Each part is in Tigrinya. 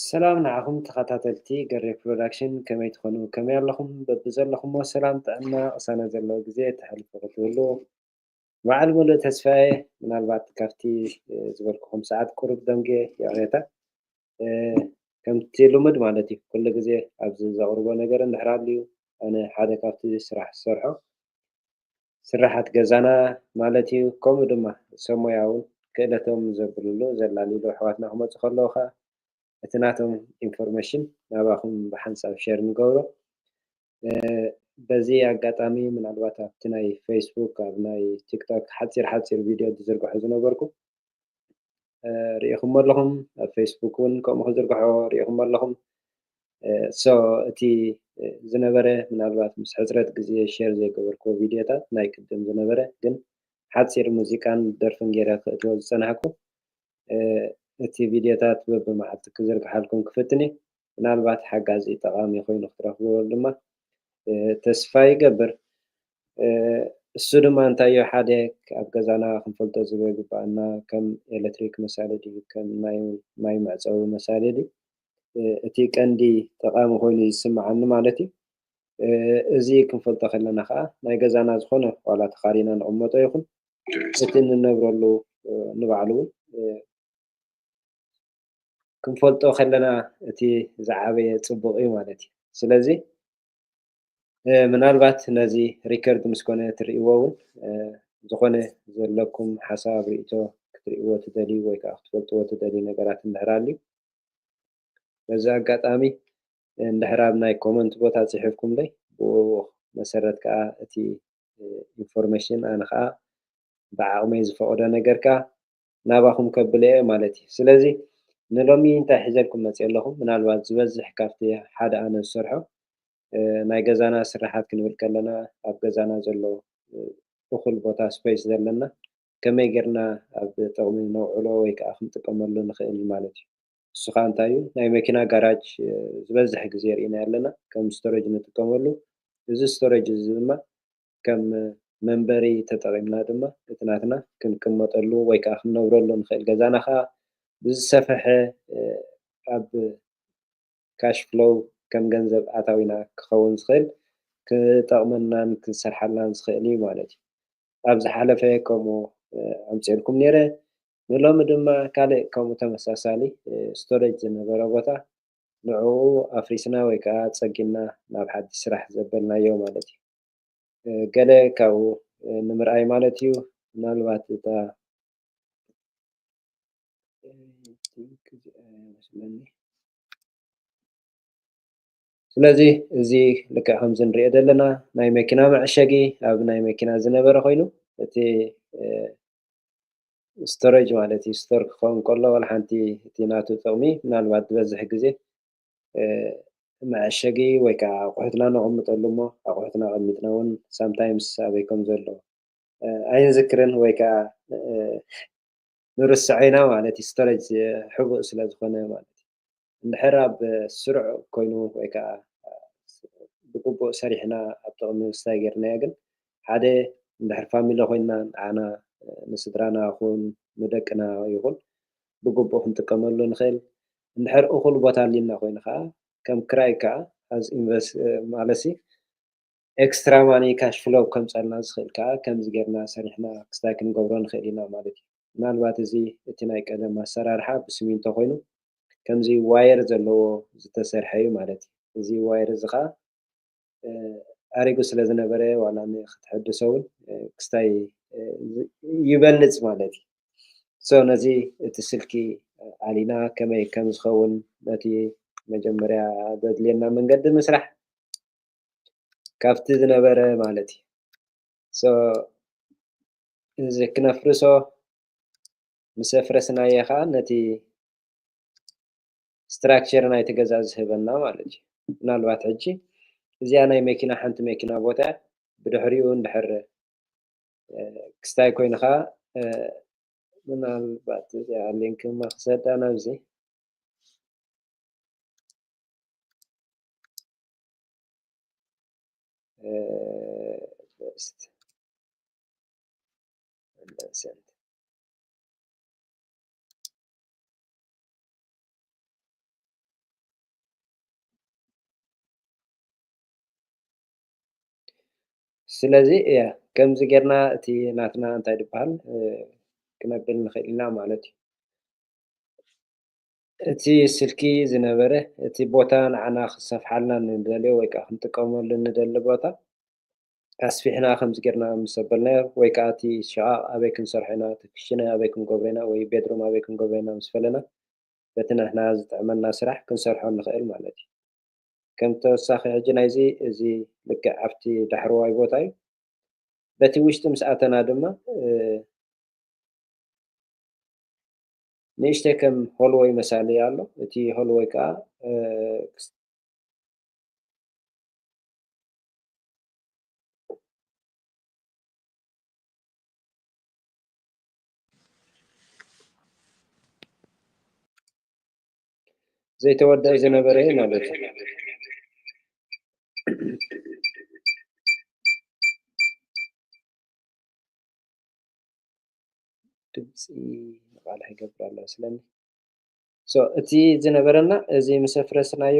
ሰላም ንዓኹም ተኸታተልቲ ገሬ ፕሮዳክሽን ከመይ ትኾኑ ከመይ ኣለኹም በብዘለኹሞ ሰላም ጥዕና ቅሳነት ዘለዎ ግዜ ተሕልፉ ክትህሉ በዓል ሙሉእ ተስፋየ ምናልባት ካብቲ ዝበልኩኹም ሰዓት ቁሩብ ደንጊየ ይቕሬታ ከምቲ ልሙድ ማለት እዩ ኩሉ ግዜ ኣብዚ ዘቕርቦ ነገር እንድሕር ኣልዩ ኣነ ሓደ ካብቲ ስራሕ ዝሰርሖ ስርሓት ገዛና ማለት እዩ ከምኡ ድማ ሰብ ሞያ እውን ክእለቶም ዘብልሉ ዘላልይሉ ኣሕዋትና ክመፁ ከለዉ ከዓ እቲ ናቶም ኢንፎርሜሽን ናባኹም ብሓንሳብ ሼር ንገብሮ በዚ ኣጋጣሚ ምናልባት ኣብቲ ናይ ፈይስቡክ ኣብ ናይ ቲክቶክ ሓፂር ሓፂር ቪድዮ ዝዝርግሖ ዝነበርኩ ሪኢኹሞ ኣለኹም ኣብ ፈይስቡክ እውን ከምኡ ክዝርግሖ ሪኢኹሞ ኣለኹም ሶ እቲ ዝነበረ ምናልባት ምስ ሕፅረት ግዜ ሼር ዘይገበርክዎ ቪድዮታት ናይ ቅድም ዝነበረ ግን ሓፂር ሙዚቃን ደርፍን ገይረ ክእትዎ ዝፀናሕኩ እቲ ቪድዮታት በብመዓልቲ ክዝርግሓልኩም ክፍትን እዩ ምናልባት ሓጋዚ ጠቓሚ ኮይኑ ክትረኽብዎ ድማ ተስፋ ይገብር። እሱ ድማ እንታይዮ ሓደ ኣብ ገዛና ክንፈልጦ ዝግበኣና ከም ኤለትሪክ መሳሊ ድዩ ከም ናይ ማይ መዕጸዊ መሳሊ ድዩ እቲ ቀንዲ ጠቓሚ ኮይኑ እዩ ዝስምዓኒ ማለት እዩ። እዚ ክንፈልጦ ከለና ከኣ ናይ ገዛና ዝኾነ ዋላ ተኻሪና ንቕመጦ ይኹን እቲ እንነብረሉ ንባዕሉ እውን ክንፈልጦ ከለና እቲ ዝዓበየ ፅቡቅ እዩ ማለት እዩ። ስለዚ ምናልባት ነዚ ሪከርድ ምስ ኮነ ትርእይዎ እውን ዝኾነ ዘለኩም ሓሳብ ርእቶ ክትርእይዎ ትደልዩ ወይ ከዓ ክትፈልጥዎ ትደልዩ ነገራት እንድሕር ኣልዩ በዚ ኣጋጣሚ እንድሕር ኣብ ናይ ኮመንት ቦታ ፅሒፍኩምለይ ብኡ መሰረት ከዓ እቲ ኢንፎርሜሽን ኣነ ከዓ ብዓቕመይ ዝፈቕዶ ነገር ከዓ ናባኹም ከብለ'የ ማለት'ዩ። ስለዚ ንሎሚ እንታይ ሒዘልኩም መጺኤ ኣለኹ፣ ምናልባት ዝበዝሕ ካብቲ ሓደ ኣነ ዝሰርሖ ናይ ገዛና ስርሓት ክንብል ከለና ኣብ ገዛና ዘሎ እኹል ቦታ፣ ስፐይስ፣ ዘለና ከመይ ጌርና ኣብ ጥቕሚ ነውዕሎ ወይ ከኣ ክንጥቀመሉ ንኽእል ማለት'ዩ። ንሱ ከኣ እንታይ'ዩ፣ ናይ መኪና ጋራጅ ዝበዝሕ ግዜ ርኢናዮ ኣለና ከም ስቶረጅ ንጥቀመሉ፣ እዚ ስቶረጅ እዚ ድማ ከም መንበሪ ተጠቒምና ድማ እቲ ናትና ክንቅመጠሉ ወይ ከኣ ክንነብረሉ ንኽእል ገዛና ከኣ ብዝሰፈሐ ኣብ ካሽ ፍሎው ከም ገንዘብ ኣታዊና ክኸውን ዝኽእል ክጠቕመናን ክንሰርሓላን ዝኽእል እዩ ማለት እዩ። ኣብ ዝሓለፈ ከምኡ ኣምጺኤልኩም ነይረ። ንሎሚ ድማ ካልእ ከምኡ ተመሳሳሊ ስቶሬጅ ዝነበረ ቦታ ንዕኡ ኣፍሪስና ወይ ከኣ ጸጊንና ናብ ሓድሽ ስራሕ ዘበልናዮ ማለት እዩ። ገለ ካብኡ ንምርኣይ ማለት እዩ ምናልባት እታ ስለዚ እዚ ልክዕ ከምዚ ንሪኦ ዘለና ናይ መኪና መዕሸጊ ኣብ ናይ መኪና ዝነበረ ኮይኑ እቲ ስቶሬጅ ማለት እዩ ስቶር ክኸውን ከሎ ዋላ ሓንቲ እቲ ናቱ ጥቕሚ ምናልባት ዝበዝሕ ግዜ መዐሸጊ ወይ ከዓ ኣቑሑትና ነቐምጠሉ እሞ ኣቑሑትና ኣቐሚጥና እውን ሳምታይምስ ኣበይ ከም ዘሎ ኣይንዝክርን ወይ ከዓ ንርስዖ ኢና ማለት እዩ ስቶሬጅ ሕቡእ ስለ ዝኾነ ማለት እዩ እንድሕር ኣብ ስሩዕ ኮይኑ ወይ ከዓ ብግቡእ ሰሪሕና ኣብ ጥቕሚ ምስታይ ጌርናዮ ግን ሓደ እንድሕር ፋሚሊ ኮይንና ንዓና ንስድራና ይኹን ንደቅና ይኹን ብግቡእ ክንጥቀመሉ ንኽእል እንድሕር እኹል ቦታ ኣልዩና ኮይኑ ከኣ ከም ክራይ ከኣ as invest ማለትሲ ኤክስትራ ማኒ ካሽ ፍሎው ከምጸልና ዝኽእል ከኣ ከምዚ ጌርና ሰሪሕና ክስታይ ክንገብሮ ንኽእል ኢና ማለት እዩ። ምናልባት እዚ እቲ ናይ ቀደም ኣሰራርሓ ብስሚንቶ ኮይኑ ከምዚ ዋየር ዘለዎ ዝተሰርሐ እዩ ማለት እዩ። እዚ ዋየር እዚ ከኣ ኣሪጉ ስለ ዝነበረ ዋላ ንክትሕድሶ እውን ክስታይ ይበልፅ ማለት እዩ ሶ ነዚ እቲ ስልኪ ኣሊና ከመይ ከም ዝኸውን ነቲ መጀመርያ ዘድልየና መንገዲ ምስራሕ ካብቲ ዝነበረ ማለት እዩ ሶ እዚ ክነፍርሶ ምስ ኣፍረስናዮ ከዓ ነቲ ስትራክቸር ናይቲ ገዛ ዝህበና ማለት እዩ። ምናልባት ሕጂ እዚኣ ናይ መኪና ሓንቲ መኪና ቦታ እያ ብድሕሪኡ እንድሕር ክስታይ ኮይንካ ምናልባት እዚኣ ሊንክ ድማ ክሰዳ ናብዚ ሊስት ስለዚ እያ ከምዚ ጌርና እቲ ናትና እንታይ ዝበሃል ክነብል ንኽእል ኢና ማለት እዩ እቲ ስልኪ ዝነበረ እቲ ቦታ ንዓና ክሰፍሓልና ንደልዮ ወይ ከዓ ክንጥቀመሉ ንደሊ ቦታ ኣስፊሕና ከምዚ ጌርና ምስ ኣበልናዮ ወይ ከኣ እቲ ሽቓቕ ኣበይ ክንሰርሖ ኢና፣ እቲ ክሽነ ኣበይ ክንገብሮ ኢና ወይ ቤድሩም ኣበይ ክንገብሮ ኢና ምስ ፈለና በቲ ንሕና ዝጥዕመና ስራሕ ክንሰርሖ ንኽእል ማለት እዩ። ከም ተወሳኺ ሕጂ ናይዚ እዚ ልክዕ ኣብቲ ዳሕረዋይ ቦታ እዩ። በቲ ውሽጢ ምስ ኣተና ድማ ንእሽተይ ከም ሆልወይ መሳሊ ኣሎ። እቲ ሆልወይ ከኣ ዘይተወደኣ ዝነበረ እዩ ማለት እዩ ድምፂ ንቃል ይገብር ኣሎ ስለኒ እቲ ዝነበረና እዚ ምስ ኣፍረስናዮ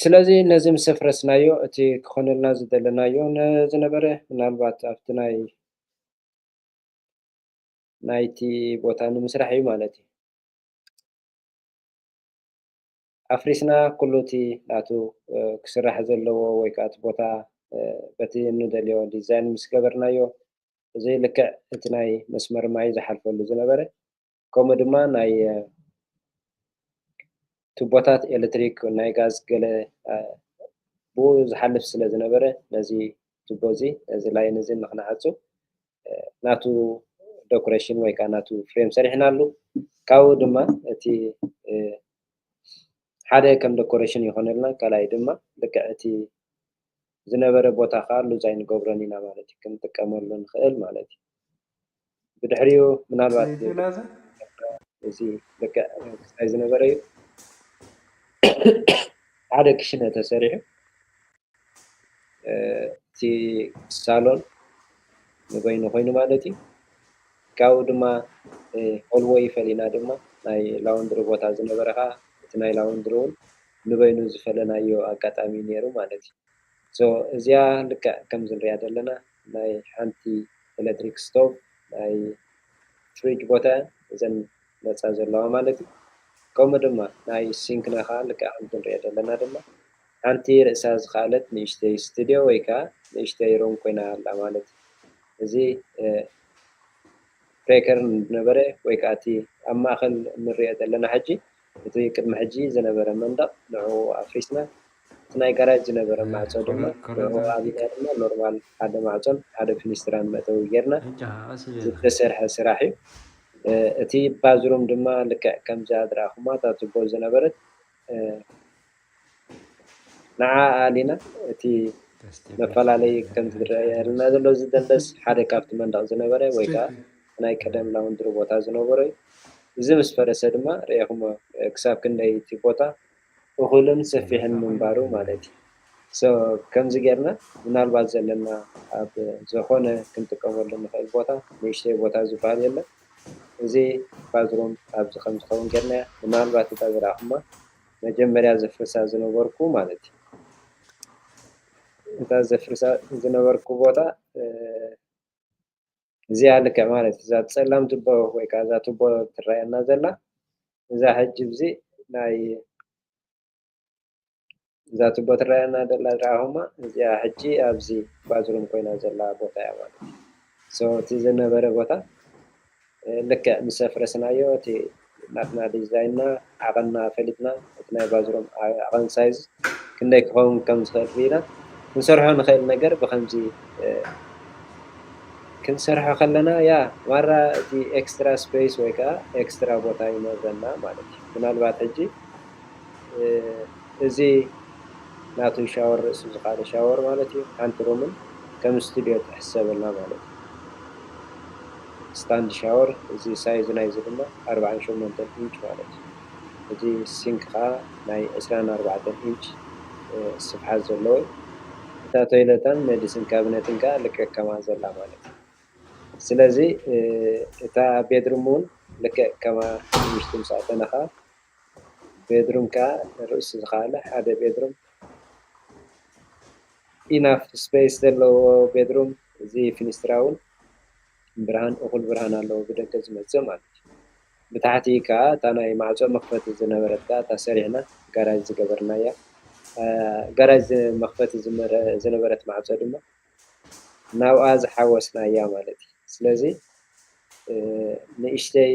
ስለዚ ነዚ ምስ ኣፍረስናዮ እቲ ክኾነልና ዝደለናዮ ዝነበረ ምናልባት ኣብቲ ናይ ናይቲ ቦታ ንምስራሕ እዩ ማለት እዩ። ኣፍሪስና ኩሉ እቲ ናቱ ክስራሕ ዘለዎ ወይ ከኣ እቲ ቦታ በቲ እንደልዮ ዲዛይን ምስ ገበርናዮ ብዘይ ልክዕ እቲ ናይ መስመር ማይ ዝሓልፈሉ ዝነበረ ከምኡ ድማ ናይ ቱቦታት ኤሌክትሪክ ናይ ጋዝ ገለ ብኡ ዝሓልፍ ስለ ዝነበረ ነዚ ቱቦ እዚ ነዚ ላይን እዚ ንክንዓጹ ናቱ ዶኩሬሽን ወይ ከዓ ናቱ ፍሬም ሰሪሕናሉ ካብኡ ድማ እቲ ሓደ ከም ደኮረሽን ይኾነልና ካልኣይ ድማ ልክዕ እቲ ዝነበረ ቦታ ከዓ ሉዝ ኣይንገብሮን ኢና ማለት እዩ ክንጥቀመሉ ንኽእል ማለት እዩ ብድሕሪኡ ምናልባት እዚ ልክዕ ክሳይ ዝነበረ እዩ ሓደ ክሽነ ተሰሪሑ እቲ ሳሎን ንበይኑ ኮይኑ ማለት እዩ። ካብኡ ድማ ሆልወይ ፈሊና ድማ ናይ ላውንድሪ ቦታ ዝነበረ ከኣ እቲ ናይ ላውንድሪ እውን ንበይኑ ዝፈለናዮ ኣጋጣሚ ነይሩ ማለት እዩ። ሶ እዚኣ ልክዕ ከምዚ ንሪኣ ዘለና ናይ ሓንቲ ኤለትሪክ ስቶቭ ናይ ፍሪጅ ቦታ እያ እዘን ዝመጻ ዘለዋ ማለት እዩ። ከምኡ ድማ ናይ ሲንክና ከኣ ልክዕ ከምቲ ንሪኦ ዘለና ድማ ሓንቲ ርእሳ ዝኸኣለት ንእሽተይ ስትድዮ ወይ ከኣ ንእሽተይ ሩም ኮይና ኣላ ማለት እዩ። እዚ ፕሬከር ዝነበረ ወይ ከኣ እቲ ኣብ ማእከል እንርእዮ ዘለና ሕጂ እቲ ቅድሚ ሕጂ ዝነበረ መንደቕ ንዕኡ ኣፍሪስና እቲ ናይ ጋራጅ ዝነበረ ማዕጾ ድማ ንዕኡ ኣብና ድማ ኖርማል ሓደ ማዕጾን ሓደ ፊኒስትራን መእተዊ ጌርና ዝተሰርሐ ስራሕ እዩ። እቲ ባዝሩም ድማ ልክዕ ከምዛ ዝረኣኹማ እታ ቱቦ ዝነበረት ንዓኣ ዲና እቲ መፈላለዪ ከምቲ ዝርኣየና ዘሎ እዚ ደንደስ ሓደ ካብቲ መንደቕ ዝነበረ ወይ ከኣ ናይ ቀደም ላውንድሪ ቦታ ዝነበሮ እዩ። እዚ ምስ ፈረሰ ድማ ርኤኹሞ ክሳብ ክንደይ እቲ ቦታ እኹልን ሰፊሕን ምንባሩ ማለት እዩ። so ከምዚ ጌርና ምናልባት ዘለና ኣብ ዝኾነ ክንጥቀመሉ ንኽእል ቦታ ንእሽተይ ቦታ ዝበሃል የለን እዚ ባዝሩም ኣብዚ ከም ዝኸውን ጌርናዮ ምናልባት እታ ዝረኣኹማ መጀመርያ ዘፍርሳ ዝነበርኩ ማለት እዩ። እታ ዘፍርሳ ዝነበርኩ ቦታ እዚኣ ልክዕ ማለት እዩ። እዛ ፀላም ቱቦ ወይ ከዓ እዛ ቱቦ ትረኣየና ዘላ እዛ ሕጂ እዚ ናይ እዛ ቱቦ ትረኣየና ዘላ ረኣኹማ እዚኣ ሕጂ ኣብዚ ባዝሩም ኮይና ዘላ ቦታ እያ ማለት እዩ። እቲ ዝነበረ ቦታ ልክዕ ምስ ኣፍረስናዮ እቲ ናትና ዲዛይንና ዓቐንና ፈሊጥና እቲ ናይ ባዙሮም ዓቐን ሳይዝ ክንደይ ክኸውን ከም ዝኽእል ርኢና ክንሰርሖ ንኽእል ነገር ብኸምዚ ክንሰርሖ ከለና ያ ማራ እቲ ኤክስትራ ስፐይስ ወይ ከኣ ኤክስትራ ቦታ ይኖረና ማለት እዩ ምናልባት ሕጂ እዚ ናቱ ሻወር ርእሲ ዝካኣለ ሻወር ማለት እዩ ሓንቲ ሩምን ከም ስቱድዮ ትሕሰበልና ማለት እዩ ስታንድ ሻወር እዚ ሳይዝ ናይዚ ድማ ኣርብዓን ሸሞንተን ኢንች ማለት እዩ እዚ ሲንክ ካኣ ናይ ዕስራን ኣርባዕተን ኢንች ስፍሓት ዘለዎ እዩ እታ ቶይለታን መዲስን ካብነትን ካኣ ልክዕ ከማኣ ዘላ ማለት እዩ ስለዚ እታ ቤድሩም ውን ልክዕ ከማኣ ውሽጢ ምስ ኣተናካ ቤድሩም ከኣ ርእሱ ዝኸኣለ ሓደ ቤድሩም ኢናፍ ስፐይስ ዘለዎ ቤድሩም እዚ ፊኒስትራ ውን ብርሃን እኹል ብርሃን ኣለዎ ብደገ ዝመጽእ ማለት እዩ ብታሕቲ ከኣ እታ ናይ ማዕጾ መኽፈቲ ዝነበረት ከኣ እታ ሰሪሕና ጋራጅ ዝገበርናያ ጋራጅ መኽፈቲ ዝነበረት ማዕጾ ድማ ናብኣ ዝሓወስናያ ማለት እዩ ስለዚ ንእሽተይ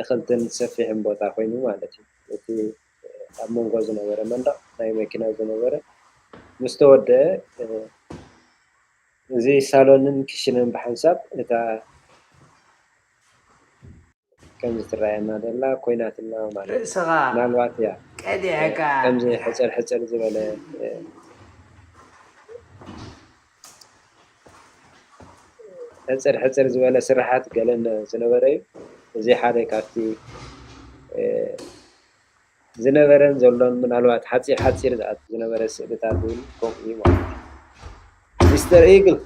እኽልትን ሰፊሕን ቦታ ኮይኑ ማለት እዩ። እቲ ኣብ መንጎ ዝነበረ መንደቕ ናይ መኪና ዝነበረ ምስ ተወደኣ፣ እዚ ሳሎንን ክሽነን ብሓንሳብ እታ ከምዚ ትረኣየና ዘላ ኮይናትና ማለት እዩ። ርእስኻ ምናልባት እያ ቀዲዕካ ከምዚ ሕጽር ሕጽር ዝበለ ሕጽር ሕጽር ዝበለ ስርሓት ገለ ዝነበረ እዩ። እዚ ሓደ ካብቲ ዝነበረን ዘሎን ምናልባት ሓጺር ሓጺር ዝኣቱ ዝነበረ ስእልታት እውን ከምኡ እዩ ማለት እዩ። ሚስተር ኢግል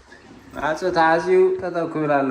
ማዕጾ ተዓጽዩ ጠጠው ክብል ኣሎ።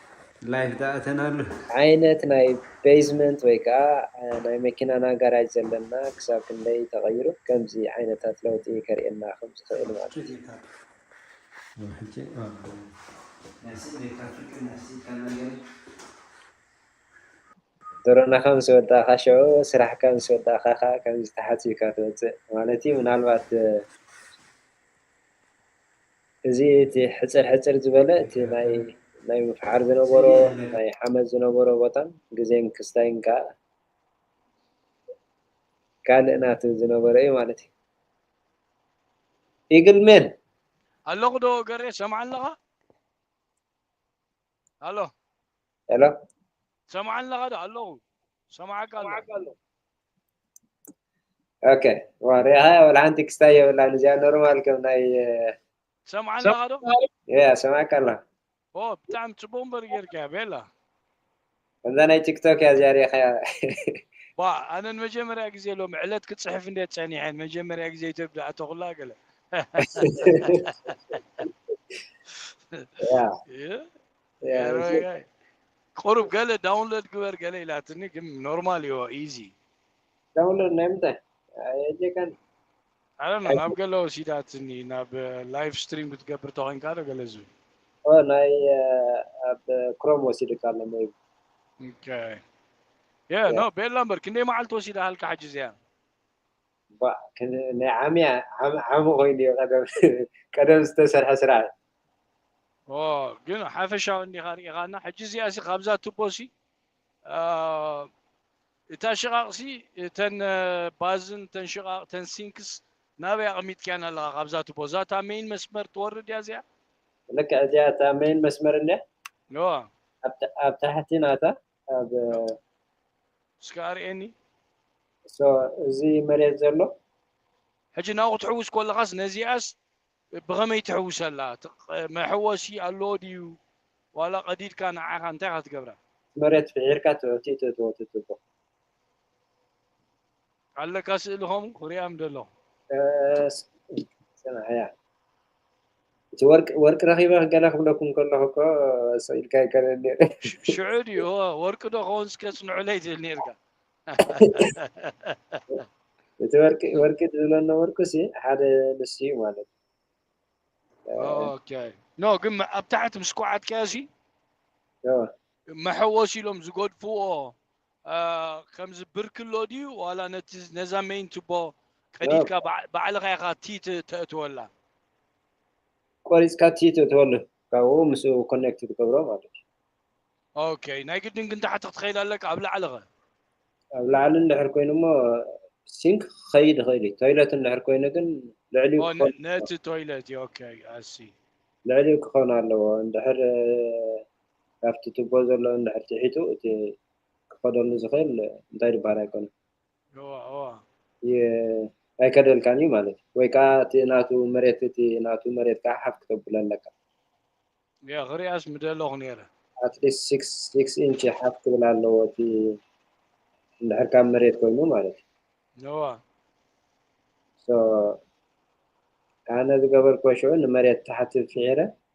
ላይፍ ዳኣ እተናሉ። ዓይነት ናይ በይዝመንት ወይ ከኣ ናይ መኪናና ጋራጅ ዘለና ክሳብ ክንደይ ተቐይሩ ከምዚ ዓይነታት ለውጢ ከርእየና ከም ዝኽእል ማለት እዩ። ድሮናኻ ምስ ወዳእካ ሸዑ ስራሕካ ምስ ወዳእካ ከኣ ከምዚ ተሓጺብካ ትወጽእ ማለት እዩ ምናልባት እዚ እቲ ሕጽር ሕጽር ዝበለ እቲ ናይ ናይ ምፍሓር ዝነበሮ ናይ ሓመድ ዝነበሮ ቦታን ግዜን ክስታይን ከኣ ካልእ ናቲ ዝነበረ እዩ ማለት እዩ። Eagle Man። ኣለኹ ዶ ገሬ ትሰምዓኒ ኣለኻ ኣሎ። Hello። ትሰምዓኒ ኣለኻ ዶ ኣለኹ ይሰምዓካ ኣለኹ። ኦኬ ዋሪ ሃያ ወላ ሓንቲ ክስታ የብላን እዚኣ ኖርማል ከም ናይ ሰምዓን ኣለኻ ዶ ያ ሰማዕካ ኣላ ኦ ብጣዕሚ ፅቡቅ እምበር ጌርካ ቤላ ከምዛ ናይ ቲክቶክ እያ እዚኣ ሪኢኻያ ባ ኣነ ንመጀመርያ ግዜ ሎም ዕለት ክፅሕፍ እንደ ፀኒሐ ንመጀመርያ ግዜ ኢትዮጵ ድኣቶ ኩላ ገለ ያ ቁሩብ ገለ ዳውንሎድ ግበር ገለ ኢላትኒ ግን ኖርማል እዮ ኢዚ ዳውንሎድ ናይ ምንታይ ኣየጀካን ኣረ ናብ ገለ ወሲዳትኒ ናብ ላይቭ ስትሪም ክትገብር ተኮይንካ ዶ ገለ ዝብል ናይ ኣብ ክሮም ወሲድካ ኣሎ ሜቢ ኦኬ ያ ኖ ቤላ እምበር ክንደይ መዓልቲ ወሲዳሃልካ ሕጂ እዚኣ ናይ ዓሚ ዓሚ ኮይኑ እዩ ቀደም ቀደም ዝተሰርሐ ስራሕ እዩ። ግን ሓፈሻዊ እንዲኻ ርኢኻና ሕጂ እዚኣ ሲ ካብዛ ቱቦ ሲ እታ ሽቓቕ ሲ እተን ባዝን እተን ሽቓቕ እተን ሲንክስ ናበይ ኣቕሚጥካየን ኣለኻ ካብዛ ቱቦ እዛ እታ ሜይን መስመር ትወርድ እያ እዚኣ ልክዕ እዚኣ እታ ሜይን መስመር እንድያ ኣብ ታሕቲ ናታ ኣብ እስከ ኣርእየኒ እሶ እዚ መሬት ዘሎ ሕጂ ናብኡ ክትሕውስ ኮለኻስ ነዚኣስ ብኸመይ ትሕውሰላ ትቕ- መሕወሲ ኣለዎ ድዩ ዋላ ቀዲድካ ንዓኻ እንታይ ኢኻ ትገብራ መሬት ፍሒርካ ትዕቲቶ ትወትትቦ ኣለካ ስእሊ ኸምኡ ክሪኣም ደለኹ። ሰምዓያ እቲ ወርቂ ወርቂ ረኺበ ገለ ክብለኩም ከለኹ እኮ ሰው ኢልካ ይከለል ነይረ። ሽዑ ድዩ እወ ወርቂ ዶ ከውንስ ከጽንዑለይ ትብል ነርካ። እቲ ወርቂ ወርቂ ዝብሎ ነበርኩ ሲ ሓደ ንሱ እዩ ማለት ኦኬ ኖ ግን ኣብ ታሕቲ ምስ ኳዓትካዮ ሲ መሐወሲ ኢሎም ዝገድፍዎ ከምዚ ብርኪ ኣሎ ድዩ ዋላ ነዛ መይን ቱቦ ቀዲድካ ባዕልኻ ኢኻ ቲ ተእትወላ ቆሪፅካ ቲ ተእትወሉ ካብኡ ምስ ኮኔክት ትገብሮ ማለት እዩ ኦኬ ናይ ግድን ግን ታሕቲ ክትኸይድ ኣለካ ኣብ ላዕሊ ኸ ኣብ ላዕሊ እንድሕር ኮይኑ እሞ ሲንክ ክኸይድ ይኽእል እዩ ቶይለት እንድሕር ኮይኑ ግን ልዕሊኡ ነቲ ቶይለት እዩ ኦኬ ኣሲ ልዕሊኡ ክኸውን ኣለዎ እንድሕር ካብቲ ቱቦ ዘሎ እንድሕር ቲሒቱ እቲ ክኸደሉ ዝኽእል እንታይ ድበሃል ኣይኮነን እዋ እዋ ይ- ኣይከደልካን እዩ ማለት እዩ ወይ ከዓ እቲ ናቱ መሬት እቲ ናቱ መሬት ከዓ ሓፍ ክተብሎ ኣለካ ያ ክሪኣስ ምደለኹ ነይረ ኣትሊስት ሲክስ ሲክስ ኢንች ሓፍ ክብል ኣለዎ እቲ እንድሕር ካብ መሬት ኮይኑ ማለት እዩ እዋ So ኣነ ዝገበርክዎ ሽዑ ንመሬት ታሕቲ ፊሒረ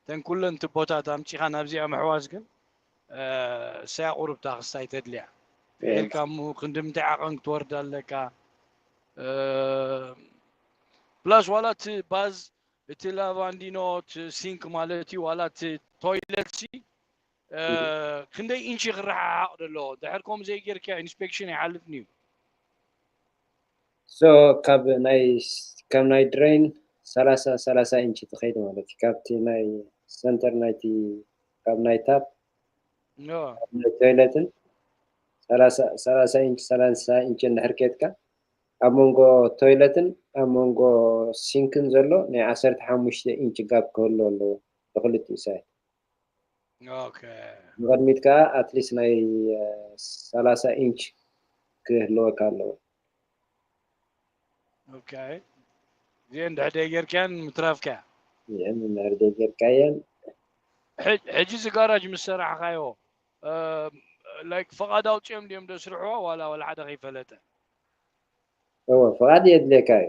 እተን ኩለን ትቦታት ኣምጺኻ ናብዚኣ ምሕዋስ ግን እሰያ ቁርብታ ክስታይ ተድልያ ጌርካ እሞ ክንድምንታይ ዓቐን ክትወርድ ኣለካ ፕላስ ዋላ እቲ ባዝ እቲ ላቫንዲኖ እቲ ሲንክ ማለት እዩ ዋላ እቲ ቶይለት ሲ ክንደይ ኢንቺ ክረሓሓቕ ደለዎ ድሕር ከምኡ ዘይጌርካዮ ኢንስፔክሽን ኣይሓልፍን እዩ ሶ ካብ ናይ ካብ ናይ ድሬን ሰላሳ ሰላሳ ኢንቺ ትኸይድ ማለት እዩ ካብቲ ናይ ሰንተር ናይቲ ካብ ናይ ታፕ ናይ ቶይለትን ሰላሳ ኢንቺ ሰላሳ ኢንቺ እንድሕር ኬትካ ኣብ መንጎ ቶይለትን ኣብ መንጎ ሲንክን ዘሎ ናይ ዓሰርተ ሓሙሽተ ኢንቺ ጋብ ክህሉ ኣለዎ ብክልቲኡ ሳይት ንቕድሚት ከኣ ኣትሊስት ናይ ሰላሳ ኢንች ክህልወካ ኣለዎ። እዚኤን እንድሕር ደይጌርካየን ምትራፍካያ። እዚኤን እንድሕር ደይጌርካየን። ሕጂ እዚ ጋራጅ ምስ ሰራሕካዮ ላይክ ፍቓድ ኣውጺኦም ድዮም ዘስርሕዎ ዋላ ዋላ ሓደ ከይፈለጠ? እወ ፍቓድ የድልየካ እዩ።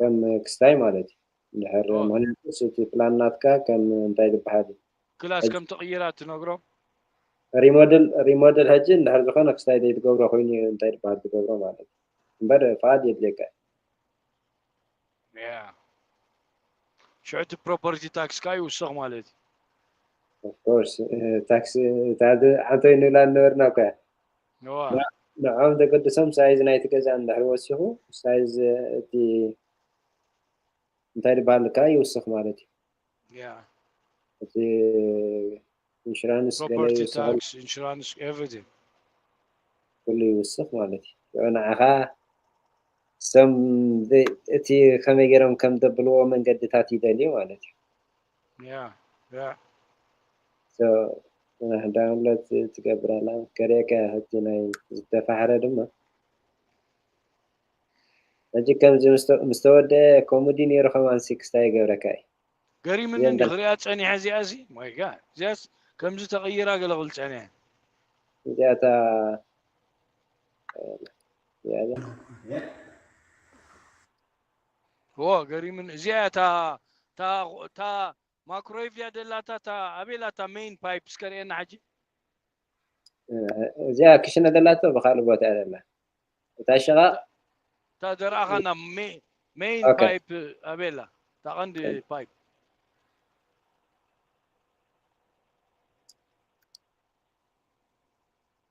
ከም ክስታይ ማለት እዩ እንድሕር ኦይ ምክንያቱስ እቲ ፕላን ናትካ ከም እንታይ ዝብሃል እዩ ክላስ ሕጂ ከም ትቕይራ ትነግሮ። ሪሞድል ሪሞድል ሕጂ እንድሕር ዝኾነ ክስታይ ዘይትገብሮ ኮይኑ እዩ እንታይ ዝብሃል ትገብሮ ማለት እዩ እምበር ፍቓድ የድልየካ እዩ። ያ ሽዑ እቲ ፕሮፐርቲ ታክስ ከኣ ይውሰኽ ማለት እዩ። ኦፍ ኮርስ ታክስ እታ ዓንተይ ንብላ ዝነበርና እኮ እያ ንዖም ዘገድሶም ሳይዝ ናይቲ ገዛ እንድሕር ወሲኹ ሳይዝ እቲ እንታይ ዝበሃል ከኣ ይውስኽ ማለት እዩ እቲ ኢንሹራንስ ገለ ይውስኽ ኩሉ ይውስኽ ማለት እዩ ሽዑ ንዓኻ እሶም እቲ ከመይ ገይሮም ከም ዘብልዎ መንገድታት ይደልዩ ማለት እዩ Yeah, yeah. So uh, download ት- ትገብር ኣላ ከርእየካ እያ ሕጂ ናይ ዝተፋሕረ ድማ ሕጂ ከምዚ ምስተ- ምስ ተወደአ ከምኡ ድዩ ነይሩ ከማን ሲክስታ ይገብረካ እዩ ገሪምኒ እዚኦም እንዲ ደርፊ ክሪኣ ጸኒሐ እዚኣ ሲ ማይ ጋድ እዚኣስ ከምዚ ተቐይራ ገለ ክብል ጸኒሐ እዚኣታ እዚኣ እዚኣ Yeah. እዎ ገሪሙኒ እዚኣ እያ እታ እታ እታ ማክሮዌቭ ድያ ደላታ እታ ኣበይ ኣላ እታ ሜይን ፓይፕ እስከ ርእየና ሕጂ እዚኣ ክሽነ ደላቶ ብካልእ ቦታ እያ ዘላ እታ ሸቓቕ እታ ዘርኣኻና ሜይን ኦኬ። ፓይፕ ኣበይ ኣላ እታ ቀንዲ ፓይፕ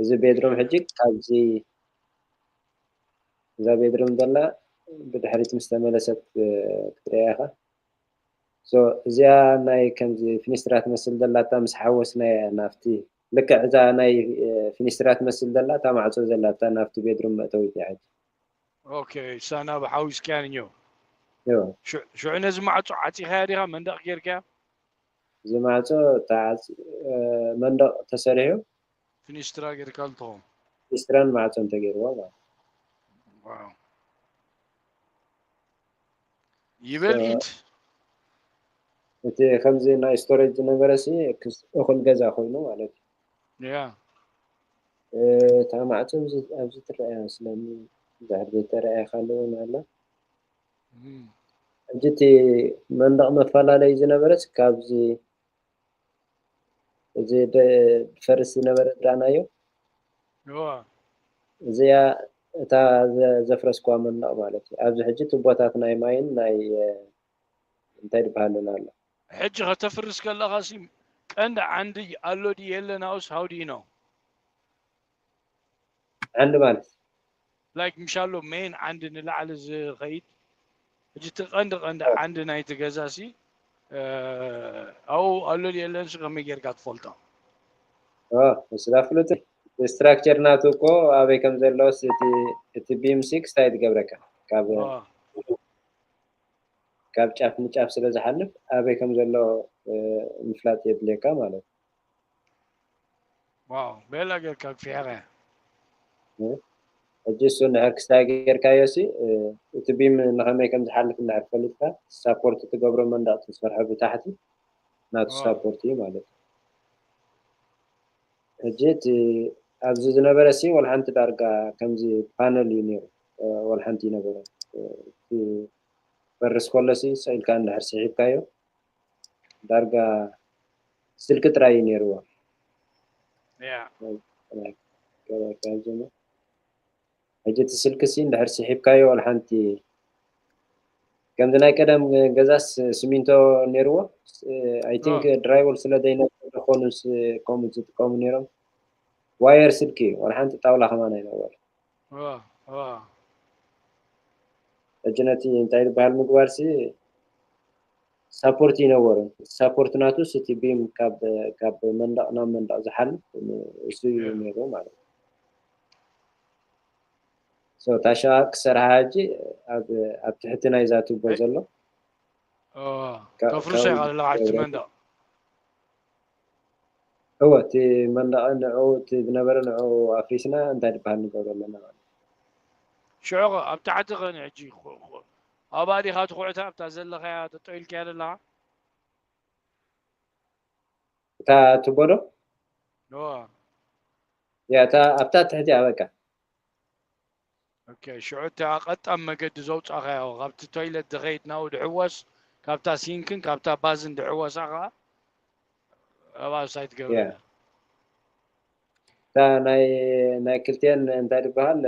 እዚ ቤድሮም ሕጂ ካብዚ እዛ ቤድሮም ዘላ ብድሕሪት ምስ ተመለሰት ክትሪያ ኢኻ ሶ እዚኣ ናይ ከምዚ ፊኒስትራ ትመስል ዘላታ ምስ ሓወስናያ ናብቲ ልክዕ እዛ ናይ ፊኒስትራ ትመስል ዘላ እታ ማዕጾ ዘላታ ናብቲ ቤድሮም መእተዊት እያ ሕጂ ኦኬ ሳና ብሓዊስካያ ንዮ ሽዑ ነዚ ማዕጾ ዓጺኻያ ዲኻ መንደቕ ጌርካያ እዚ ማዕጾ ተዓጽዩ መንደቕ ተሰሪሑ። ፊኒስትራ ጌርካሉ ትኸውን። ፊኒስትራን ማዕጾን ተገይርዎ ማለት እዩ። ዋው ይበል ኢድ። እቲ ከምዚ ናይ ስቶሬጅ ዝነበረሲ እኹል ገዛ ኮይኑ ማለት እዩ። ያ እታ ማዕጾ ኣብዚ ትረኣያ መስለኒ እንድሕር ዘይተራእየካ ኣሎ እውን ኣሎ። ሕጂ እቲ መንደቕ መፈላለዩ ዝነበረስ ካብዚ እዚ ፈርስ ዝነበረ ዝረኣናዮ እዚኣ እታ ዘፍረስኳ መንደቕ ማለት እዩ ኣብዚ ሕጂ ትቦታት ናይ ማይን ናይ እንታይ ድበሃልን ኣሎ ሕጂ ከተፍርስ ከለኻ ሲ ቀንዲ ዓንዲ ኣሎ ድ የለን ኣውስ ሃውዲ ነው ዓንዲ ማለት። ላይክ ምሻሎ ሜን ዓንዲ ንላዕሊ ዝኸይድ ሕጂ እቲ ቀንዲ ቀንዲ ዓንዲ ናይቲ ገዛሲ ኣብኡ ኣሎ ድዩ የለንሲ ከመይ ጌርካ ትፈልጦ ስላ ፍሉጥ ስትራክቸር ናቱ እኮ ኣበይ ከም ዘለዎስ እቲ ቢም ሲክስ እንታይ ትገብረካ ካብ ካብ ጫፍ ንጫፍ ስለ ዝሓልፍ ኣበይ ከም ዘሎ ምፍላጥ የድልየካ ማለት ዋው ቤላ ጌርካ ክፊሕኸ ሕጂ እሱ እንድሕር ክስታይ ጌርካዮ ሲ እቲ ቢም ንኸመይ ከም ዝሓልፍ እንድሕር ፈሊጥካ ሳፖርት ትገብሮ መንደቕ ትሰርሖ ብታሕቲ ናቱ ሳፖርት እዩ ማለት እዩ ሕጂ እቲ ኣብዚ ዝነበረ ሲ ወልሓንቲ ዳርጋ ከምዚ ፓነል እዩ ነይሩ ወልሓንቲ ይነበረ ፈርስ ከሎ ሲ ሰኢልካ እንድሕር ስሒብካዮ ዳርጋ ስልኪ ጥራይ እዩ ነይርዋ ሕጂ እቲ ስልኪ ሲ እንድሕር ስሒብካዮ ወላ ሓንቲ ከምዚ ናይ ቀደም ገዛስ ስሚንቶ ነይርዎ ኣይ ቲንክ ድራይወል ስለ ዘይነበረ ዝኾኑ ከምኡ ዝጥቀሙ ነይሮም ዋየር ስልኪ ወላ ሓንቲ ጣውላ ከማን ኣይነበረ ሕጂ ነቲ እንታይ ዝበሃል ምግባርሲ ሳፖርት ይነበሮ ሳፖርት ናቱስ እቲ ቢም ካብ መንደቕ ናብ መንደቕ ዝሓልፍ እሱ እዩ ነይሩ ማለት እዩ ሶ እታ ሸቓቕ ክሰርሓ ሕጂ ኣብ ትሕቲ ናይዛ ቱቦ ዘሎ ተፍርሶ ይቃልለካ ሕጂ መንደቕ እወ እቲ መንደቐ ንዕኡ እቲ ዝነበረ ንዕኡ ኣፍሪስና እንታይ ድበሃል ንገብሮ ኣለና ማለት ሽዑኸ ኣብ ታሕቲ ኸ ንሕጂ ኣብኣ ዲኻ ትኹዕታ ኣብታ ዘለኻያ ጠጠው ኢልካያ ዘለኻ እታ ትቦ ዶ እወ ያ እታ ኣብታ ትሕቲኣ በቃ ኦኬ ሽዑ እታ ቀጣን መገዲ ዘውጻኻዮ ካብቲ ቶይለት ዝኸይድ ናብኡ ድሕወስ ካብታ ሲንክን ካብታ ባዝን ድሕወሳ ከዓ ኣብኣ ሳይ ትገብር እታ ናይ ክልቲኤን እንታይ ዝበሃል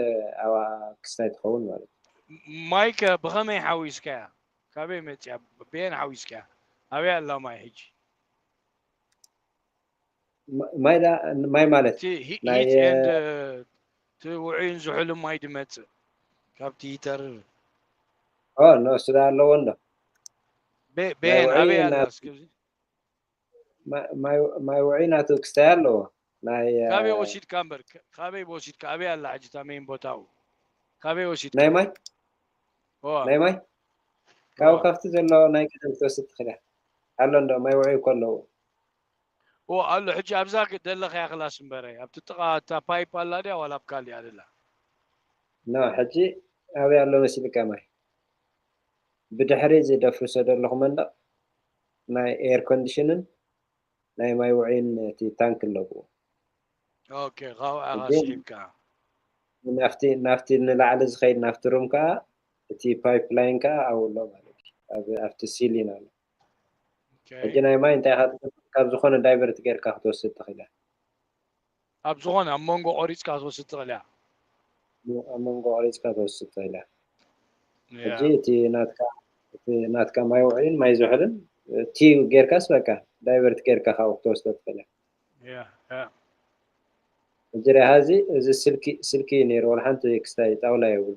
ኣብኣ ክስታይ ትኸውን ማለት እዩ ማይከ ብኸመይ ሓዊስካያ ካበይ መፅያ ብየን ሓዊስካያ ኣበይ ኣላ ማይ ሕጂ ማይ ዳ- ማይ ማለት እቲ ሂ- ናይ ሂት ኤንድ እቲ ውዑይን ዝሑልን ማይ ድመፅእ ካብቲ ሂተርር ኦ ኖ ስዳ ኣለዎ እንዶ በ- በየን ውዑይ ኣበይ እና- ኣላ እስኪ ኣብዚ? ማ- ማይ ማይ ውዑይ ናቱ ክስታይ ኣለዎ ናይ እ፣ ካበይ ወሲድካ እምበር ከ- ካበይ ወሲድካ ኣበይ ኣላ ሕጂ እታ መይን ቦታኡ ካበይ ወሲድካ ናይ ማይ ዋ ናይ ማይ ካብኡ ዋ ካብቲ ዘሎ ናይ ቀደም ክትወስድ ትኽእል እያ ኣሎ እንዶ ማይ ውዑይ እኮ ኣለዎ ኦ ኣሎ ሕጂ ኣብዛ ደለኻያ ክላስ እምበረ ኣብቲ ጥቃ እታ ፓይፕ ኣላ ድያ ዋላ ኣብ ካሊእ ኣደላ። ን ሕጂ ኣበይ ኣሎ መሲልካ ማይ ብድሕሪ እዚ ደፍርሶ ደለኹ መንደቕ ናይ ኤር ኮንድሽንን ናይ ማይ ውዑይን እቲ ታንክ ኣለዎ። ኦኬ ካብኡ ኢኻ ሕጂ ስሒብካ። ናፍቲ ናፍቲ ንላዕሊ ዝኸይድ ናፍቲ ሩም ከኣ እቲ ፓይፕ ላይን ከኣ ኣብኡ ኣሎ ማለት እዩ ኣብ ኣብቲ ሲሊን ኣሎ። ሕጂ ናይ ማይ እንታይ ኢኻ ትገብር ካብ ዝኾነ ዳይቨርት ጌርካ ክትወስድ ትኽእል ኢኻ። ኣብ ዝኾነ ኣብ መንጎ ቆሪጽካ ክትወስድ ትኽእል ኢኻ። ኣብ መንጎ ቆሪጽካ ክትወስድ ትኽእል ኢኻ። ሕጂ እቲ ናትካ እቲ ናትካ ማይ ውዕሊን ማይ ዝሑልን እቲ ጌርካስ በቃ ዳይቨርት ጌርካ ካብኡ ክትወስዶ ትኽእል ኢኻ። ሕጂ ርኣያ እዚ እዚ ስልኪ ስልኪ እዩ ነይሩ ወላ ሓንቲ ክስታይ ጣውላ የብሉ።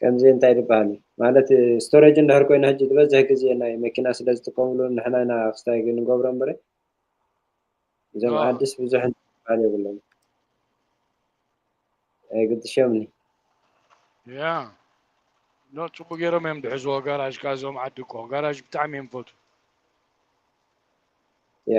ከምዚ እንታይ ድበሃል እዩ ማለት ስቶሬጅ እንድሕር ኮይኑ ሕጂ ዝበዝሕ ግዜ ናይ መኪና ስለ ዝጥቀምሉ ንሕና ኢና ክስታይ ንገብሮ እምበር እዞም አዎ ዓድስ ብዙሕ ዝበሃል የብሎም ኣይግድሾምኒ ያ ኖ ፅቡቅ ገይሮም እዮም ድሕዝዎ ጋራጅ ከዓ እዞም ዓዲ እኮ ጋራጅ ብጣዕሚ እዮም ፈቱ ያ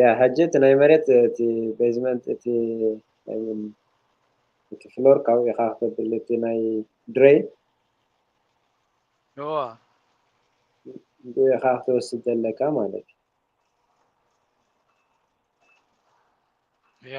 ያ ሕጂ እቲ ናይ መሬት እቲ ቤዝመንት እቲ ኣይሚን እቲ ፍሎር ካብኡ ኢኻ ክተብል እቲ ናይ ድሬን እዋ ብኡ ኢኻ ክትወስድ ዘለካ ማለት እዩ ያ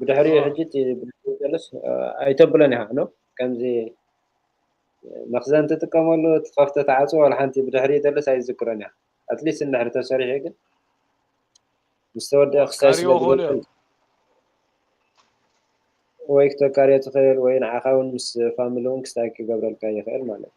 ብድሕሪኡ ሕጂ እቲ ብሉስ ኣይተብሎን ኢኻ ኖ ከምዚ መኽዘን ትጥቀመሉ ትኸፍተ ተዓፅዎ ዋላ ሓንቲ ብድሕሪኡ ተልስ ኣይዝክሮን ኢኻ ኣትሊስት እንድሕሪ ተሰሪሑ ግን ምስ ተወድአ ክሳይ ስለዝበል ወይ ክተካርዮ ትኽእል ወይ ንዓኻ እውን ምስ ፋሚሊ እውን ክስታይ ክገብረልካ ይኽእል ማለት እዩ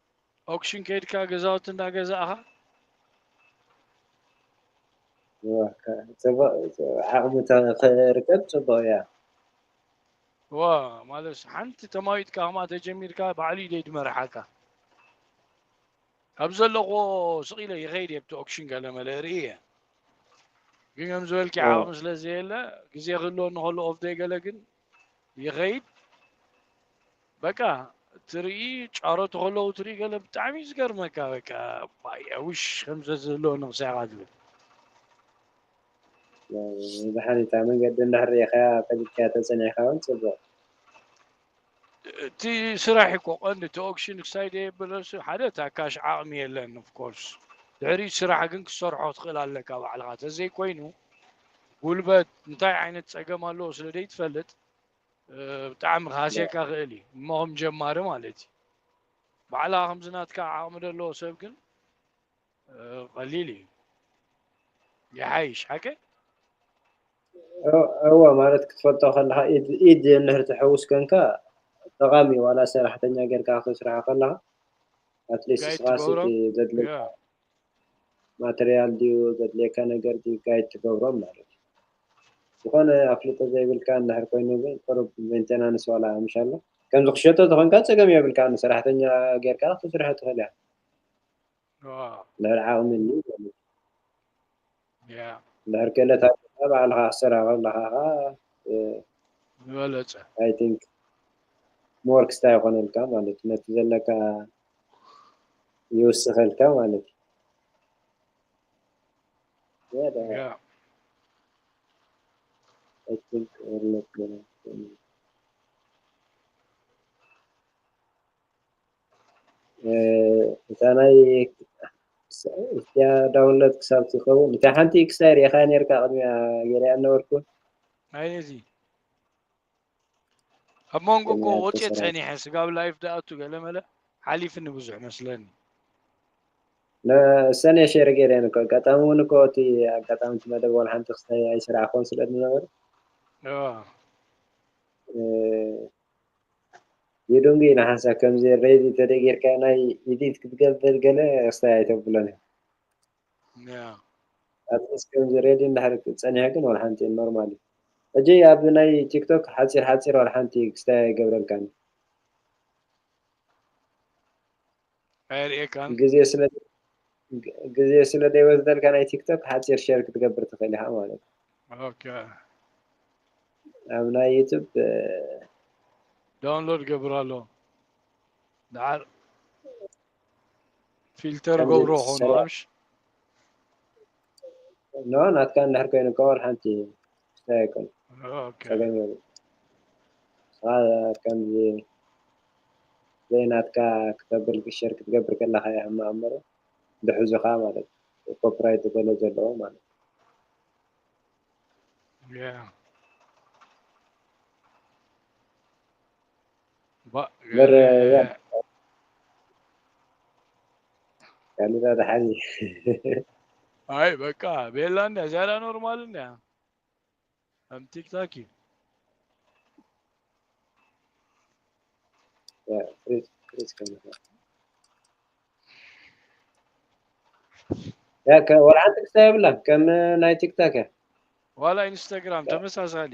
ኦክሽን ከይድካ ገዛውቲ እንዳገዛእኻ ዓቕሚ ርከብ ፅቡቕ እያ ዋ ማለት ሓንቲ ተማዊጥካ ከማ ተጀሚርካ ባዕሉ ኢደ ድመርሓካ ኣብ ዘለኹዎ ስቕ ኢለ ይኸይድ እየ ብቲ ኦክሽን ገለመለ ርኢ እየ ግን ከም ዝበልኪ ዓቕሚ ስለ ዘየለ ግዜ ክህልወኒ ከሎ ኦፍ ዘይገለ ግን ይኸይድ በቃ ትርኢ ጫሮት ከለዉ ትርኢ ገለ ብጣዕሚ እዩ ዝገርመካ በቃ ባያውሽ ከምዘ ዝህልዎ ንክሳኻ ዝብል ብሓኒታ መንገዲ እንዳሕርኢኻያ ፈሊጥካያ ተፀኒዕካ እውን ፅቡቕ እቲ ስራሕ እኮ ቀንዲ እቲ ኦክሽን ክሳይ ደየብለሱ ሓደ እታ ካሽ ዓቕሚ የለን ኦፍኮርስ ድሕሪ ስራሕ ግን ክሰርሖ ትኽእል ኣለካ ባዕልኻ ተዘይኮይኑ ጉልበት እንታይ ዓይነት ፀገም ኣለዎ ስለ ዘይትፈልጥ ብጣዕሚ ክሃስየካ ክእል እዩ እሞ ከም ጀማሪ ማለት እዩ ባዕላ ከምዚ ናትካ ዓቕሚ ዘለዎ ሰብ ግን ቀሊል እዩ ይሓይሽ ሓቂ እወ ማለት ክትፈልጦ ከለካ ኢድ ኢድ እንድሕር ትሕውስ ኮንካ ጠቓሚ እዩ ዋላ ሰራሕተኛ ጌርካ ክትስርሖ ከለካ ኣትሊስት ስቃሲ ዘድልየካ ማተርያል ድዩ ዘድልየካ ነገር ድዩ ጋይድ ትገብሮም ማለት እዩ ዝኾነ ኣፍልጦ ዘይብልካ እንድሕር ኮይኑ ግን ቅሩብ ሜንቴናንስ ዋላ ኣምሻሎ ከምዚ ክሸጦ ተኾንካ ፀገም የብልካ ንሰራሕተኛ ጌርካ ክትስርሖ ትኽእል እያ ልዕሊ ዓቕሚ እንድሕር ክእለት ኣለካ ባዕልካ ክትሰርሕ ከለካ ከኣ ዝበለጸ ኣይ ቲንክ ሞር ክስታይ ይኮነልካ ማለት እዩ ነቲ ዘለካ ይውስከልካ ማለት እዩ Yeah. I think we're looking at እታ ናይ እቲያ ዳውንሎድ ክሳብ ትኸውን እታ ሓንቲ ክሳይ ርኢኻ ነርካ ቅድሚያ ገሪያ ነበርኩ ኣይዚ ኣብ መንጎ እኮ ወፅየ ፀኒሐ ስጋብ ላይፍ ዳኣቱ ገለመለ ሓሊፍኒ ብዙሕ መስለኒ ሰነ ሸር ገይረን እኮ ኣጋጣሚ እውን እኮ እቲ ኣጋጣሚ እቲ መደብ ወላ ሓንቲ ክስታይ ኣይስራዕኹን ስለ ዝነበረ የዶንግይ ንሓንሳብ ከምዚ ሬዚ ተደይ ጌርካ ናይ ኢዲት ክትገብር ገለ ክስታይ ኣይተብሎን እየ ኣትሊስ ከምዚ ሬዲ እንድሕር ጸኒሑ ግን ወላ ሓንቲ ኖርማል እዩ ሕጂ ኣብ ናይ ቲክቶክ ሓጺር ሓጺር ወላ ሓንቲ ክስታይ ኣይገብረልካን ኣየርእየካን ግዜ ስለ ግዜ ስለ ዘይወስደልካ ናይ ቲክቶክ ሓጺር ሸር ክትገብር ትኽእል ኢኻ ማለት እዩ። ኦኬ ኣብ ናይ ዩቱብ ዳውንሎድ ገብር ኣሎ ድሓር ፊልተር ከምዚ ገብሮ ኾኑ ሰሪዕ ኣምሽ ኖ ናትካ እንድሕር ኮይኑ እኮ ዋላ ሓንቲ እንታይ ኣይኮነን ኦኬ ጸገም የብሉን ንስኻ ከምዚ ዘይናትካ ክተብል ሸር ክትገብር ከለኻ እዩ ሕማቕ እምበር ዝሕዙኻ ማለት እዩ ኮፒራይት ገለ ዘለዎ ማለት ያ ባእ ገለ ካሊዳ ድሓን ኣይ በቃ ቤላ እንያ ዝያዳ ኖርማል እንያ ከም ቲክታክ እዩ ወላ ሓንቲ ክስታ የብላን ከም ናይ ቲክታክ እያ ዋላ ኢንስታግራም ተመሳሳሊ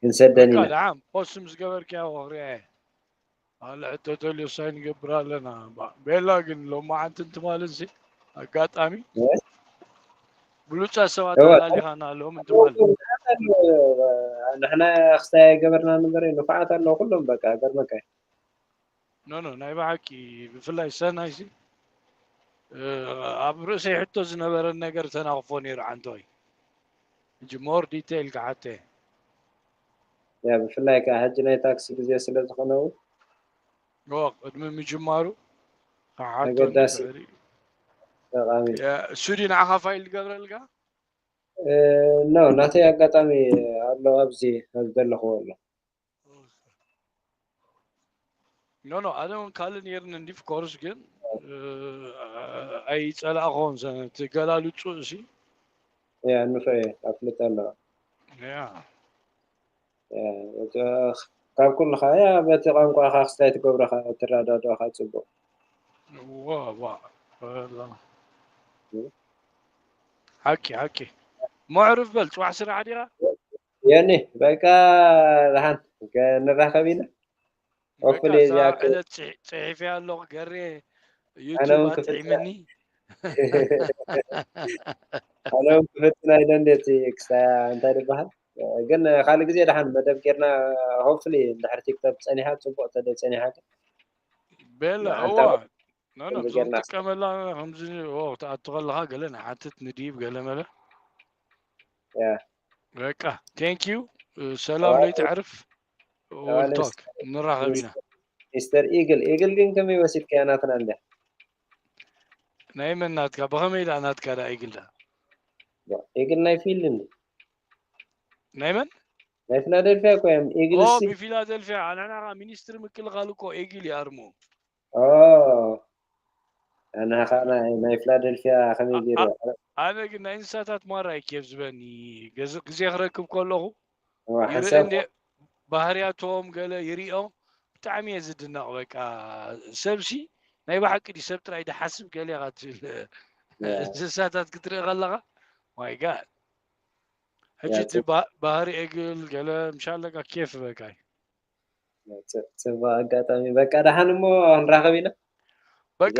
ክንሰደን ኢና ዓም ፖስም ዝገበርክያ ወክርያ ኣለ ሕቶ ተልዮ ሳይ ንገብር ኣለና ቤላ ግን ሎማዓንቲ እንትማልንሲ ኣጋጣሚ ብሉፃ ሰባት ኣላሊኻና ኣለዎም እንትማል ንሕና ክስታይ ኣይገበርና ንበር ንፋዓት ኣለዎ ኩሎም በቃ ገርመካ ኖ ኖ ናይ ብሓቂ ብፍላይ ሰናይ ሲ ኣብ ርእሰይ ሕቶ ዝነበረ ነገር ተናኽፎ ነይሩ ዓንተወይ ሕጂ ሞር ዲቴይል ክሓተ እየ ብፍላይ ከዓ ሕጂ ናይ ታክሲ ግዜ ስለ ዝኾነ እውን ኦ ቅድሚ ምጅማሩ ክሓቶ ኣገዳሲ ንኽእል እዩ ጠቃሚ ሱዲ ንዓኻ ፋይል ዝገብረልካ ኖ ናተይ ኣጋጣሚ ኣሎ ኣብዚ ኣብ ዘለኽዎ ኣሎ ኖኖ ኣነ እውን ካልእ ነይርኒ እንዲ ኮርስ ግን ኣይፀላእኹን እቲ ገላልፁ እሲ እያ ንፍዐ ኣፍልጠ ኣለዋ ካብ ኩሉ ከያ በቲ ቋንቋኻ ክስታይ ትገብረኻ ትረዳድኦኻ ፅቡቅ ሓቂ ሓቂ መዕርፍ በል ፅዋሕ ስራሕ ዲኻ ዮኒ በቃ ዝሓን ንራኸብ ኢና ሆፕፉሊ በቃ እዛ እዚኣ ክ- ዕለት ጽሒ- ጽሒፈያ ኣለኹ ገሬ ኣነ ዩቱብ እውን ክፍትና ኣጥዒመኒ ኣነ እውን ክፍትና ኢለ እንዴት ክሳያ እንታይ ዝበሃል ግን ካልእ ግዜ ድሓን መደብ ጌርና ሆፕፉሊ ድሕሪ ቲክቶክ ጸኒሓ ጽቡቕ ተደ ጸኒሓ ግን ቤላ ንሓንታ እዋ ኖ ኖ ከምዚ ብዞም ጌርና ጥቀመላ ከምዚ ኦ ትኣቱ ከለኻ ገለ ንሓትት ንድይብ ገለ መለ ያ በቃ ቴንክ ዩ ሰላም ለይ ተዕርፍ ወልቶክ ንራኸብ ኢና ሚስተር ኢግል ኢግል ግን ከመይ ወሲድካያ ናትና እንድያ ናይ መን ናትካ ብኸመይ ዳኣ ናትካ ዳ ኢግል ዳ ኢግል ናይ ፊልድ እንዲ ናይ መን ናይ ፊላደልፊያ እኮ እዮም ኢግል ሲ ብፊላደልፊያ ንሕና ከዓ ሚኒስትሪ ምክልኻል እኮ ኢግል ይኣርሙ ኦህ ኣንሃ ከኣ ናይ ናይ ፍላደልፍያ ከመይ ጌሩ ኣ- ኣረ ኣነ ግን ናይ እንስሳታት ማራ እዩ ኬፍ ዝበኒ ገዝ- ግዜ ክረክብ ከለኹ ዋ ይርኢ ሓንሳብ እንደ ባህርያቶም ገለ ይሪኦ ብጣዕሚ እየ ዝድነቕ በቃ ሰብሲ ናይ ብሓቂ ድዩ ሰብ ጥራይ ድሓስብ ገለ ኢኻ ትብል ያ እንስሳታት ክትርኢ ከለኻ ማይ ጋድ ሕጂ ያ እቲ ባ- ባህሪ እግል ገለ ምሻለካ ኬፍ በቃ እዩ ጽቡቅ ኣጋጣሚ በቃ ደሓን እሞ ንራኸብ ኢና በቃ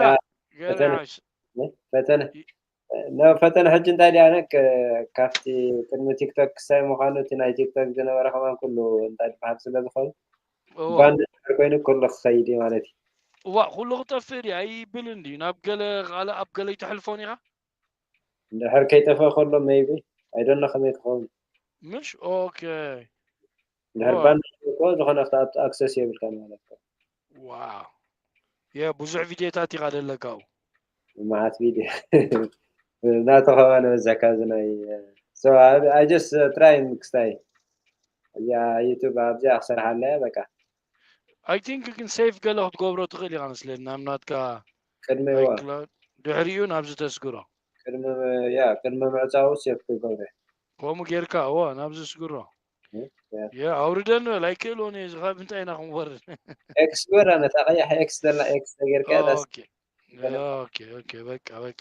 ፈተነ ፈተነ ነው ፈተነ ሕጂ እንታይ ድያ ነክ ካብቲ ቅድሚ ቲክቶክ ክሳይ ምዃኑ እቲ ናይ ቲክቶክ ዝነበረ ከማን ኩሉ እንታይ ዝበሃል ስለ ዝኾኑ ባንድ ኮይኑ ኩሉ ክኸይድ እዩ ማለት እዩ እዋ ኩሉ ክጠፍእ ድዩ ኣይብልን ድዩ ናብ ገለ ካልእ ኣብ ገለ ይተሕልፎን ኢኻ እንድሕር ከይጠፍኣ ከሎ ሜይቢ ኣይ ዶንት ኖ ከመይ ክኸውን ምሽ ኦኬ እንድሕር ኦ፣ ባንድ እኮ ዝኾነ ክትኣቱ ኣክሰስ የብልካን ማለት እኮ ዋው የ ብዙሕ ቪድዮታት ኢኻ ዘለካ ኣብኡ መዓት ቪድዮ ናቱ ከማን በዝሕ ካብዚ ናይ ሶ ኣይ ጀስት ትራይ ክስታይ እዚኣ ዩቱብ ኣብዚኣ ክሰርሓ ኣለያ በቃ ኣይ ቲንክ ግን ሴቭ ገለ ክትገብሮ ትኽእል ኢኻ መስለኒ ናብ ናትካ ቅድሚ ዋ ኣይክላውድ ድሕሪኡ ናብዚ ተስግሮ ቅድሚ ያ ቅድሚ ምዕጻው ሴቭ ክገብረ ከምኡ ጌርካ እዎ ናብዚ ስግሮ እ፣ ያ የ ኣውርደ ንበል ኣይክእልዎን እየ እዚ ካብ እንታይ ኢና ክንወርድ ኤክስ ግበር ኣነ እታ ቀያሕ ኤክስ ዘላ ኤክስ ተጌርካ እያ ታስ ኦኬ ገለ ኦኬ ኦኬ በቃ በቃ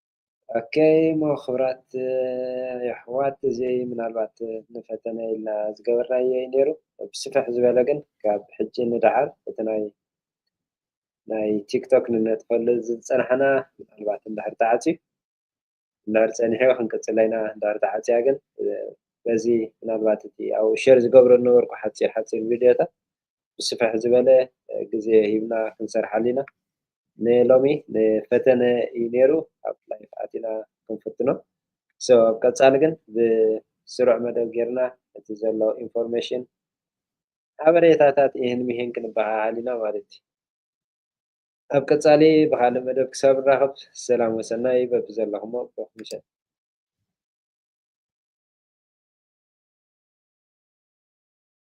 ኦከይ እሞ ክብራት የሕዋት እዚ ምናልባት ንፈተነ ኢልና ዝገበርናዮ እዩ ኔሩ ብስፍሕ ዝበለ ግን ካብ ሕጂ ንደሓር እቲ ናይ ናይ ቲክቶክ ንነጥፈሉ ዝጸናሕና ምናልባት እንድሕር ተዓጽዩ እንድሕር ጸኒሑ ክንቅጽሎ ኢና እንድሕር ተዓጽያ ግን በዚ ምናልባት እቲ ኣብኡ ሸር ዝገብሮ ዝነበርኩ ሓጺር ሓጺር ቪድዮታት ብስፍሕ ዝበለ ግዜ ሂብና ክንሰርሓሉ ኢና። ንሎሚ ንፈተነ እዩ ነይሩ ኣብ ላይፍ ኣቲና ክንፍትኖ ሶ ኣብ ቀጻሊ ግን ብስሩዕ መደብ ጌርና እቲ ዘሎ ኢንፎርሜሽን ሓበሬታታት ኢህን ሚህን ክንበሃሃል ኢና ማለት እዩ። ኣብ ቀጻሊ ብኻልእ መደብ ክሳብ ንራኸብ ሰላም ወሰናይ በብዘለኹሞ ብሩኽ ምሸት።